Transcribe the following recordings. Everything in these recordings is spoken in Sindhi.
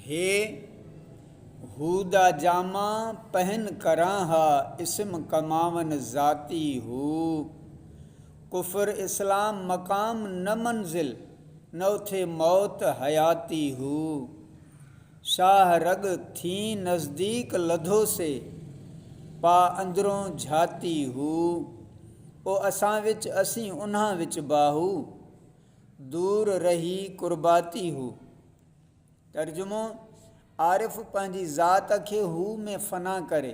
هي هودا جاما پهن ڪران ها اسم ڪماون ذاتي هو ڪفر اسلام مقام نه منزل نه اٿي موت حياتي هو شاهه رڳ ٿين نزديڪ لڌو سي پا اندرون جھاتي هو او اسان وچ اسين انهان وچ باهو دور رهي قرباتي هو. ترجمو، عارف پنهنجي ذات کي هو ۾ فنا ڪري،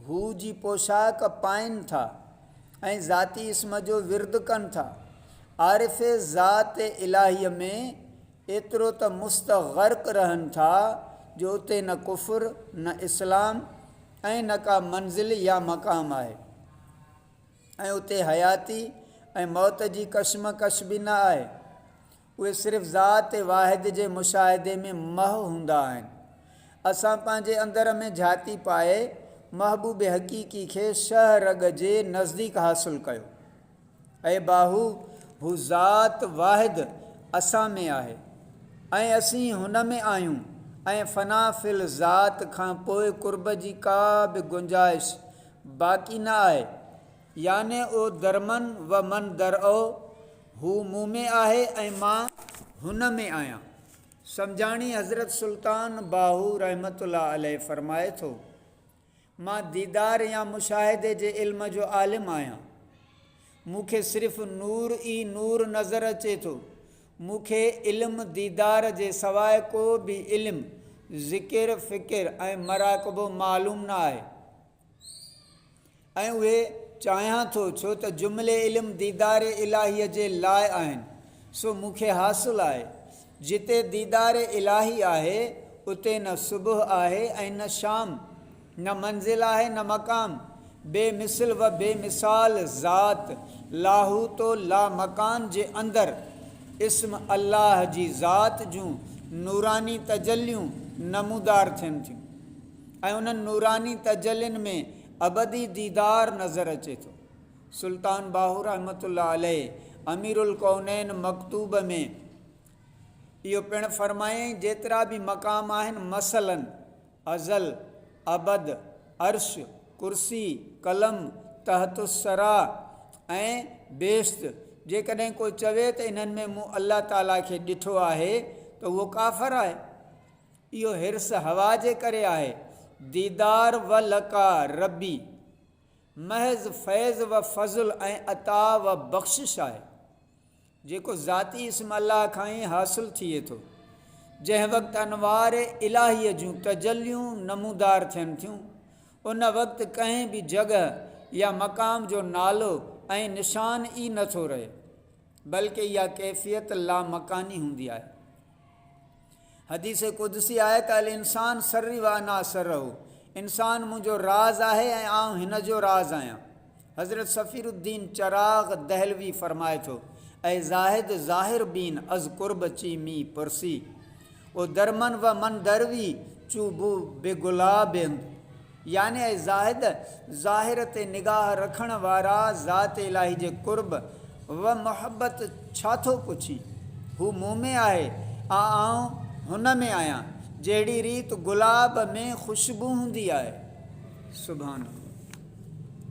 هو جي پوشاڪ پائين ٿا ۽ ذاتي اسم جو ورد ڪن ٿا. عارف ذات الٰهيء ۾ ايترو ته مستغرق رهن ٿا جو اتي نه ڪفر، نه اسلام ۽ نه ڪا منزل يا مقام آهي ۽ اتي حياتي ۽ موت جي ڪشمڪش به نه آهي. اهي صرف ذات واحد جي مشاهدي ۾ محو هوندا آهن. اسان پنهنجي اندر ۾ جهاتي پائي محبوب حقيقي کي شهه رڳ جي نزديڪ حاصل ڪيو. اي باهو! هو ذات واحد اسان ۾ آهي ۽ اسين هن ۾ آهيون ۽ فنا في الذات کان پوء قرب جي ڪا به گنجائش باقي نه آهي يعني او درمن و من درئو، هو مون ۾ آهي ۽ مان هن ۾ آهيان. سمجهاڻي حضرت سلطان باهو رحمة الله عليه فرمائي ٿو، مان ديدار يا مشاهدي جي علم جو عالم آهيان. مون کي صرف نور ئي نور نظر اچي ٿو. مون کي علم ديدار جي سواء ڪو به علم، ذڪر، فڪر ۽ مراقبو معلوم نه آهي. ۽ اهي چاهيان ٿو، ڇو ته جملي علم ديدار الاهيء جي لاء آهن، سو مون کي حاصل آهي. جتي ديدار الاهي آهي، اتي نه صبح آهي ۽ نه شام، نه منزل آهي نه مقام. بي مثل و بي مثال ذات لاهوت و لامڪان جي اندر، اسم الله جي ذات جون نوراني تجليون نمودار ٿين ٿيون. ۽ انهن نوراني تجلين ۾ ابدي ديدار نظر اچي ٿو. سلطان باهو رحمة الله عليه امير الڪونين مڪتوب ۾ اهو پڻ فرمايائين، جيترا به مقام آهن مثلاً ازل، ابد، عرش، ڪرسي، قلم، تحت الثريٰ ۽ بهشت، جيڪڏهن ڪو چوي ته انهن ۾ مون الله تعاليٰ کي ڏٺو آهي ته اهو ڪافر آهي. اهو حرص هوا جي ڪري آهي. ديدار و لقاء ربي محض فيض و فضل ۽ عطاء و بخشش آهي، جيڪو ذاتي اسم الله کان ئي حاصل ٿئي ٿو، جنهن وقت انوار الاهيء جون تجليون نمودار ٿين ٿيون، ان وقت ڪنهن به جڳهه يا مقام جو نالو ۽ نشان ئي نه ٿو رهي، بلڪ اها ڪيفيت لامڪاني هوندي آهي. حديث قدسي آهي ته الانسان سري وانا اسره انسان منهنجو راز آهي ۽ آئون هن جو راز آهيان حضرت صفير الدين چراغ دهلوي فرمائي ٿو اي زاهد ظاهر بين از قرب چي مي پرسي او درمن و من دروي چو بو به گلابند يعني اي زاهد! ظاهر تي نگاهه رکڻ وارا ذات الاهي جي قرب و محبت ڇا ٿو پڇين؟ هو مون ۾ آهي ۽ آئون هن ۾ آهيان، جهڙي ريت گلاب ۾ خوشبو هوندي آهي. سبحان الله!